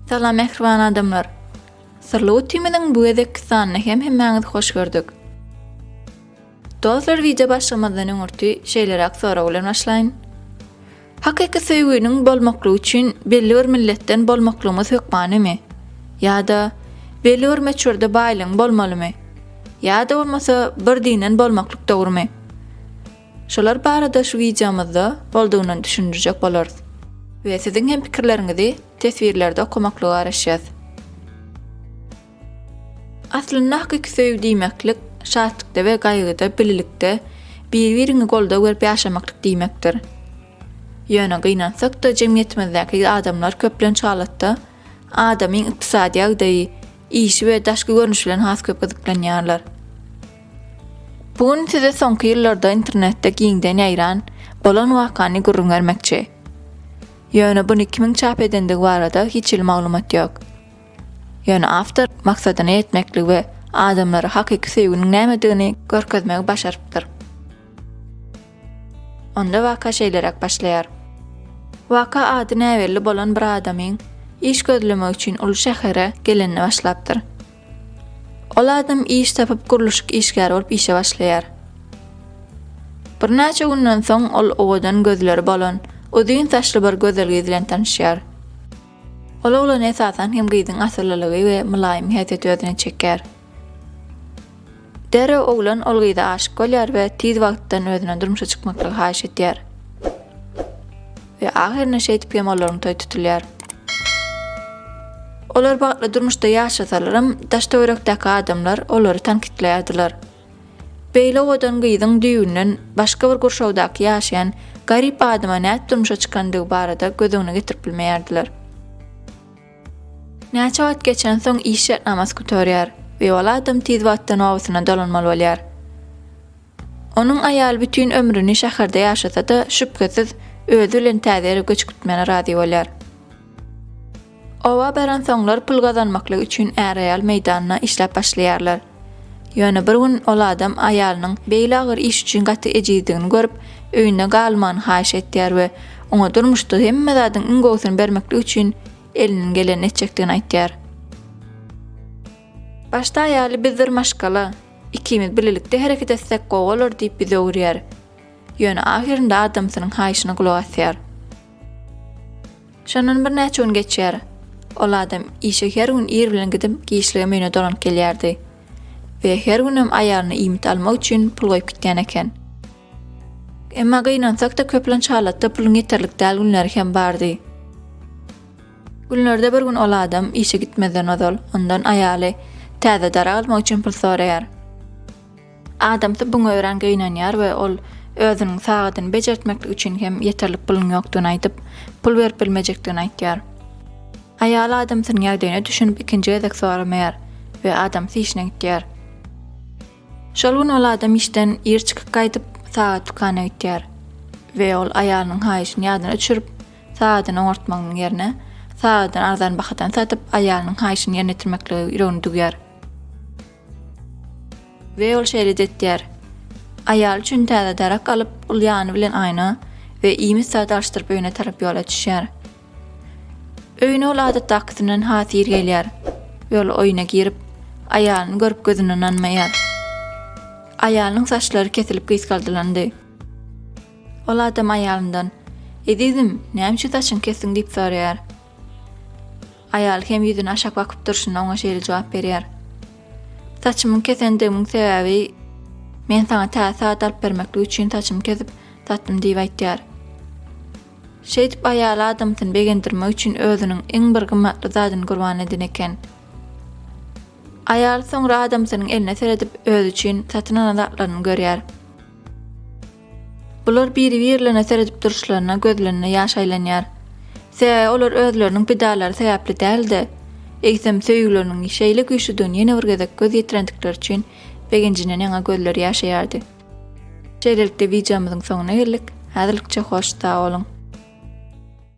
Salam mähriban adamlar. Syrly utimiziň bu gezekki sanyny hem hemmäňiz hoş gördük. Dostlar, wideo başlamazdan öňürti şeýleräk sorag bilen başlaýyn. Hakyky söýgüniň bolmaklygy üçin belli bir milletden bolmaklygymyz hökmanymy? Ýa-da belli bir möçberde baýlygyň bolmalymy? Ýa-da bolmasa bir dinden bolmaklyk dogrumy? Şolar barada şu wideomyzda boldugyndan düşündirjek bolarys. We siziň hem pikirleriňizi teswirlerde okamaklygy garaşýas. Aslynda hakyky söýgi diýmeklik, şatlykda we gaýgyda birlikde, bir-biriňi goldaw berip ýaşamaklyk diýmekdir. Ýöne gynansak-da jemgyýetimizdäki adamlar köplenç halatda adamyň ykdysady ýagdaýy, işi we daşky görnüşi bilen has köp gyzyklanýarlar. Bu gün size soňky ýyllarda internetde giňden ýaýran bolan wakany gürrüň bermekçi. Ýöne buny kimiň çap edendigi barada hiç hili maglumat ýok. Ýöne awtor maksadyna ýetmekligi we adamlara hakyky söýginiň nämedigini görkezmegi başarypdyr. Onda waka şeýleräk başlaýar. Waka ady näbelli bolan bir adamyň iş gözlemek üçin uly şähere gelenine başlapdyr. Ol adam iş tapyp gurluşyk işgäri bolup işe başlaýar. Birnäçe günden soň ol owadan gözleri bolan, uzyn saçly bir gözel gyz bilen tanyşýar. Ol oglany esasan hem gyzyň asyllylygy we mylaýym häsiýeti özüne çekýär. Derrew oglan ol gyza aşyk bolýar we tiz wagtdan özüne durmuşa çykmaklygy haýyş edýär. We ahyrynda şeýdip hem olaryň toý tutulýar. Olar bagtly durmuşda ýaşasalaram, daş-töwerekdäki adamlar olary tankytlaýardylar. Beýle owadan gyzyň düýbünden başga bir gurşawdaky ýaşaýan garyp adama nädip durmuşa çykandygy barada göz öňüne getirip bilmeýärdiler. Näçe wagt geçensoň iş şertnamasy gutarýar we ol adam tiz wagtda nobatyna dolanmaly bolýar. Onuň aýaly bütin ömrüni şäherde ýaşasa-da, şübhesiz, özi bilen täze ýere göç gitmäne razy bolýar. Oba baransoňlar pul gazanmaklyk üçin är-aýal meýdanda işläp başlaýarlar. Ýöne bir gün ol adam aýalynyň beýle agyr iş üçin gaty ejizdigini görüp, öýünde galmany haýyş etýär we oňa durmuşda hemme zadyň iň gowusyny bermeklik üçin elinden gelenini etjekdigini aýtýar. Başda aýaly bizdir maşgala, ikimiz birlikde hereket etsek gowy bolar diýip ýüz öwürýär. Ýöne ahyrynda adamsynyň haýyşyna gulak asýar. Şondan birnäçe gün geçýär. Ol adam işe her gün ir bilen gidip, giçligem öýüne dolanyp gelýärdi. We her günem aýalyna iýmit almak üçin pul goýup gitýän eken. Emma gynansak-da köplenç halatda puluň ýeterlik däl günleri hem bardy. Günlerde bir gün ol adam işe gitmezden ozal ondan aýaly täze darag almak üçin pul soraýar. Adamsy buňa örän gynanýar we ol özüniň sagadyny bejertmeklik üçin hem ýeterlik puluň ýokdugyny aýdyp, pul berip bilmejekdigini aýtýar. Aýaly adamsynyň ýagdaýyna düşünip ikinji gezek soramaýar we adamsy işine gitýär. Şol gün ol adam işden ir çykyp gaýdyp, sagat dükana gitýär we ol aýalynyň haýyşyny ýadyna düşürip, sagadyny oňartmagynyň ýerine, sagadyny arzan bahadan satyp, aýalynyň haýyşyny ýerine ýetirmeklige ýüregini düwýär. We ol şeýle-de etýär. Aýaly üçin täze darak alyp, ol ýany bilen aýna we iýmit zady alşdyryp öýüne tarap ýola düşýär. Öýüne ol adatdakysyndan has ir gelýär we ol oýuna girip, aýalyny görüp gözüne ynanmaýar. Aýalynyň saçlary kesilip gysgaldylandy. Ol adam aýalyndan, Ezizim, näme üçin saçyňy kesdiň diýip soraýar. Aýal hem ýüzüne aşak bakyp durşuna oňa şeýle jogap berýär. Saçymyň kesendigimiň sebäbi men saňa täze sagat alyp bermeklik üçin saçymy kesip satdym diýip aýtýar. Şeýdip aýal adamsyny begendirmek üçin özüniň iň bir gymmatly zadyny gurban eden eken. Aýal soňra adamsynyň eline seredip özi üçin satyn alan zatlaryny görýär. Bular biri-birlerine seredip duruşlaryna gözlerinde ýaş aýlanýar. Sebäbi olar özleriniň pidalary sebäpli däl-de, eýsem, söýgüleriniň şeýle güýçlüdigini ýene bir gezek göz ýetirendikleri üçin begenjinden ýaňa gözleri ýaşaýardy. Şeýlelikde wideomyzyň soňuna geldik. Häzirlikçe hoş sag boluň!